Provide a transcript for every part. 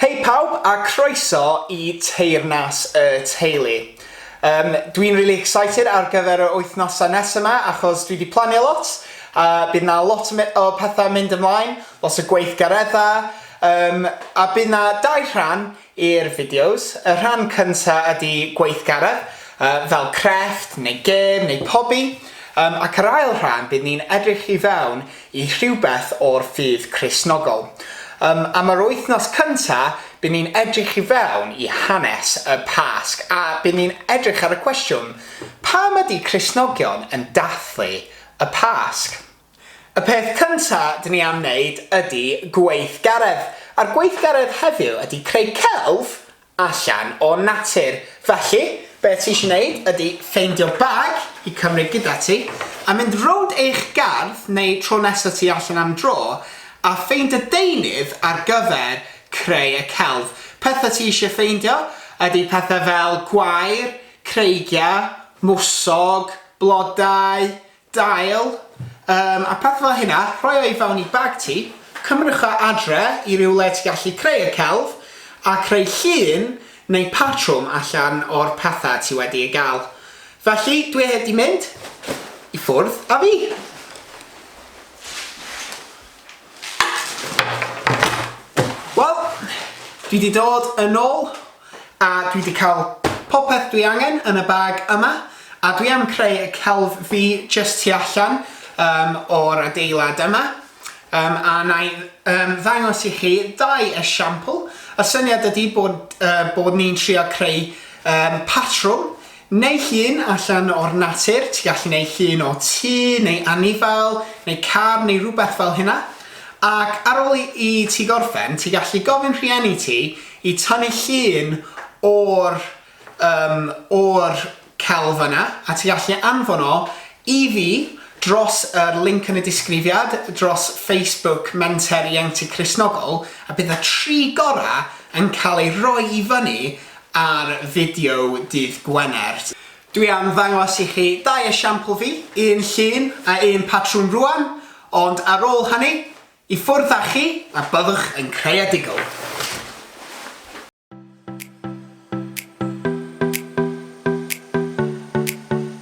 Hei pawb a croeso i Teyrnas y Teulu. Yym, dwi'n really excited ar gyfer yr wythnosau nesaf yma achos dwi wedi planio lot a bydd yna lot o pethau mynd ymlaen, lot o gweithgareddau, yym, a bydd yna dau rhan i'r fideos. Y rhan cynta ydi gweithgaredd, yy fel crefft neu gêm neu pobi, yym ac yr ail rhan bydd ni'n edrych i fewn i rhywbeth o'r ffydd Cristnogol. Yym am yr wythnos cynta bydd ni'n edrych i fewn i hanes y Pasg a bydd ni'n edrych ar y cwestiwn, pam ydi Cristnogion yn dathlu y Pasg? Y peth cynta dyn ni am wneud ydy gweithgaredd, a'r gweithgaredd heddiw ydy creu celf allan o natur. Felly, be ti eisiau wneud ydy ffeindio bag i cymryd gyda ti, a mynd rownd eich gardd neu tro nesaf ti allan am dro, a ffeindio deunydd ar gyfer creu y celf. Pethau ti eisiau ffeindio ydy pethau fel gwair, creigiau, mwsog, blodau, dail, yym, a pethau fel hynna, rhoi o i fewn i bag ti, cymrwch o adre i rywle ti'n gallu creu y celf, a creu llun neu patrwm allan o'r pethau ti wedi ei gael. Felly, dwi heb di mynd i ffwrdd a fi! Wel, dwi wedi dod yn ôl a dwi wedi cael popeth dwi angen yn y bag yma a dwi am creu y celf fi jyst tu allan um, o'r adeilad yma um, a na i um, ddangos i chi dau esiampl. Y syniad ydy bod, uh, bod ni'n trio creu um, patrwm Neu llun allan o'r natur, ti gallu neud llun o tŷ neu anifail neu car neu rwbeth fel hynna, ac ar ôl i i ti gorffen ti gallu gofyn rhieni ti i tynnu llun o'r yym o'r celf yna a ti gallu anfon o i fi dros yr linc yn y disgrifiad dros Facebook Menter Ieuenctid Cristnogol a bydd y tri gorau yn cael eu rhoi i fyny ar fideo dydd Gwener. Dwi am ddangos i chi dau esiampl fi, un llun a un patrwn rwan, ond ar ôl hynny, i ffwrdd â chi a byddwch yn creadigol.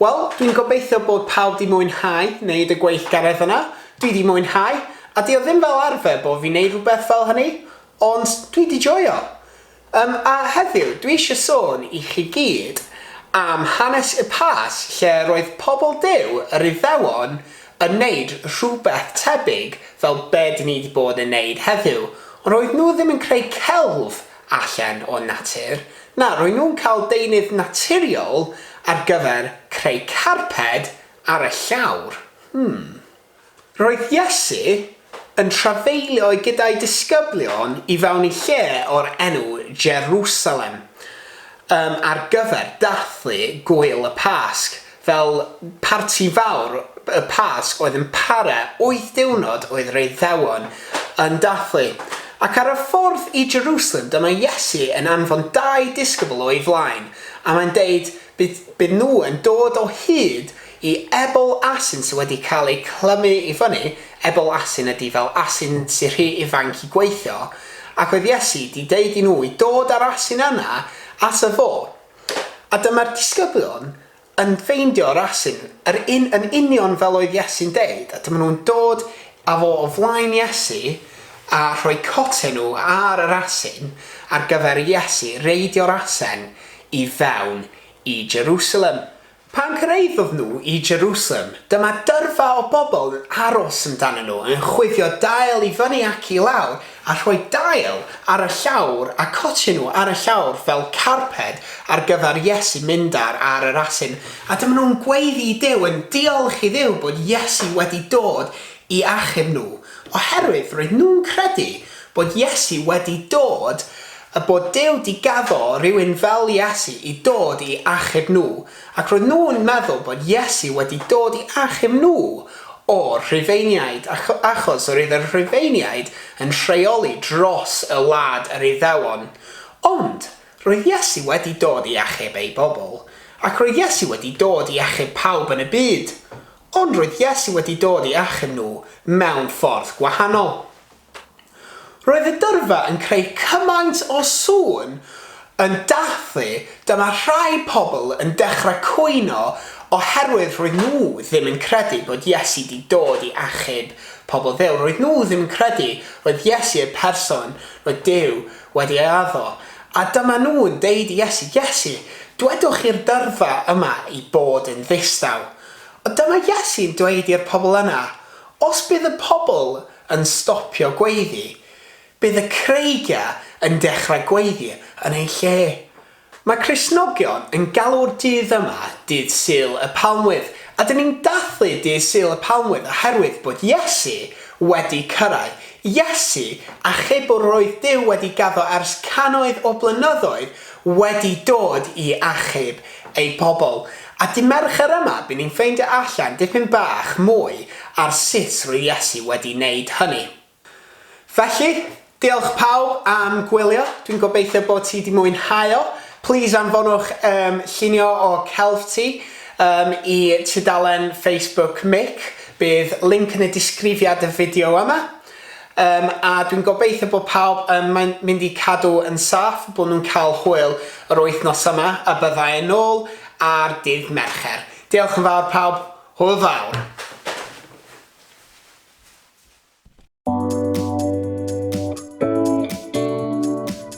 Wel, dwi'n gobeithio bod pawb di mwynhau wneud y gweithgaredd yna. Dwi di mwynhau, a di o ddim fel arfer bod fi'n neud rhywbeth fel hynny, ond dwi di joio. Yym a heddiw dwi isio sôn i chi gyd am hanes y Pass lle roedd pobl Duw yr Iddewon yn neud rhywbeth tebyg fel be dyn ni di bod yn neud heddiw ond roedd nhw ddim yn creu celf allan o natur, na roedd nhw'n cael deunydd naturiol ar gyfer creu carped ar y llawr. Hmm. Roedd Iesu yn trafeilio gyda'i disgyblion i fewn i lle o'r enw Jerusalem um, ar gyfer dathlu Gŵyl y Pasg, fel parti fawr y Pasg oedd yn para wyth diwrnod oedd yr Iddewon yn dathlu. Ac ar y ffordd i Jerusalem dyma Iesu yn anfon dau disgybl o'i flaen, a mae'n deud, Bydd bydden nhw yn dod o hyd i ebol asyn sydd wedi cael eu clymu i fyny, ebol asyn ydy fel asyn sydd rhy ifanc i gweithio, ac oedd Iesu wedi deud i nhw i dod â'r asyn yna ato fo. A dyma'r disgyblion yn ffeindio'r asyn, yr un yn union fel oedd Iesu'n deud, a dyma nhw'n dod â fo o flaen Iesu a rhoi coten nhw ar yr asyn ar gyfer i Iesu reidio'r asen i fewn i Jerusalem. Pan gyrhaeddodd nhw i Jerusalem, dyma dyrfa o bobl yn aros amdanyn nhw, yn chwifio dail i fyny ac i lawr, a rhoi dail ar y llawr a cotio nhw ar y llawr fel carped ar gyfer Iesu mynd ar ar yr asyn, a dyma nhw'n gweiddi i Duw, yn diolch i Dduw bod Iesu wedi dod i achub nhw, oherwydd roedd nhw'n credu bod Iesu wedi dod A bod Duw 'di gaddo rywun fel Iesu i dod i achub nhw, ac roedd nhw'n meddwl bod Iesu wedi dod i achub nhw o'r Rhufeiniaid, achos yr oedd y Rhufeiniaid yn rheoli dros y wlad yr Iddewon. Ond, roedd Iesu wedi dod i achub ei bobl. Ac roedd Iesu wedi dod i achub pawb yn y byd. Ond roedd Iesu wedi dod i achub nhw mewn ffordd gwahanol. Roedd y dyrfa yn creu cymaint o sŵn yn dathlu, dyma rhai pobl yn dechrau cwyno oherwydd roedd nhw ddim yn credu bod Iesu 'di dod i achub pobl Dduw, roedd nhw ddim yn credu roedd Iesu y person roedd Duw wedi ei addo, a dyma nhw'n deud i Iesu, Iesu, dwedwch i'r dyrfa yma i bod yn ddistaw. Ond dyma Iesu'n dweud i'r pobl yna, Os bydd y pobl yn stopio gweiddi, bydd y creigiau yn dechrau gweiddi yn eu lle. Mae Cristnogion yn galw'r dydd yma Dydd Sul y Palmwydd, a dyn ni'n dathlu Dydd Sul y Palmwydd oherwydd bod Iesu wedi cyrraedd. Iesu, achub o roedd Duw wedi gaddo ers cannoedd o blynyddoedd, wedi dod i achub ei pobl. A dy Mercher yma by ni'n ffeindio allan dipyn bach mwy ar sut rwy Iesu wedi neud hynny. Felly, diolch pawb am gwylio, dwi'n gobeithio bod ti di mwynhau o, plîs anfonwch yym llunio o celf ti yym i tudalen Facebook Mick, bydd linc yn y disgrifiad y fideo yma. Yym a dwi'n gobeithio bod pawb yn maen- mynd i cadw yn saff, bod nhw'n cael hwyl yr wythnos yma a bydda i nôl ar dydd Mercher. Diolch yn fawr pawb, hwyl fawr!